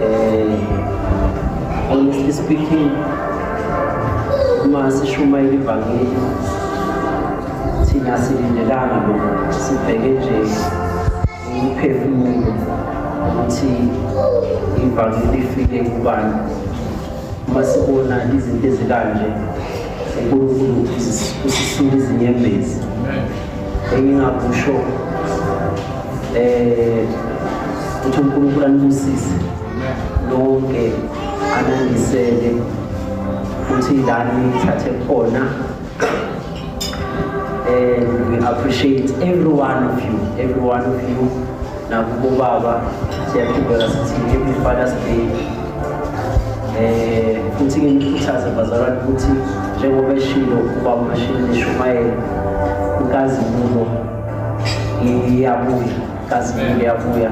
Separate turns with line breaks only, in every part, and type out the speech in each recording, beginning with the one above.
Eh honestly speaking uma sishumayela ivangeli thina silindelanga lokho sibheke nje umphefumulo ukuthi ivangeli ifike kubani uma sibona izinto ezikanje unkulunkulu usisula izinyembezi engingakusho um eh, ukuthi unkulunkulu anibusise lonke anandisele ukuthi lani nithathe khona and we appreciate every one of you every one of you Nakubo baba siyaqhubeka sithi happy father's day eh futhi nginikhuthaze bazalwane ukuthi njengoba eshilo uba umashini nishumayela inkazimulo iyabuya inkazimulo iyabuya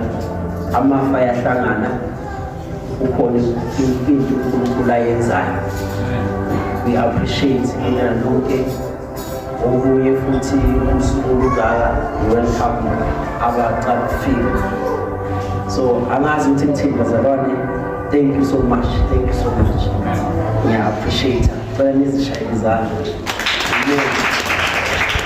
amafa ayahlangana ukhona into unkulunkulu ayenzayo we appreciate mina lonke okunye futhi usuku olungaka i-world cup abaqala ukufika so angazi ukuthi ngithini bazalwane thank you so much thank you so much ngiya-appreciate cela nizishaye izandla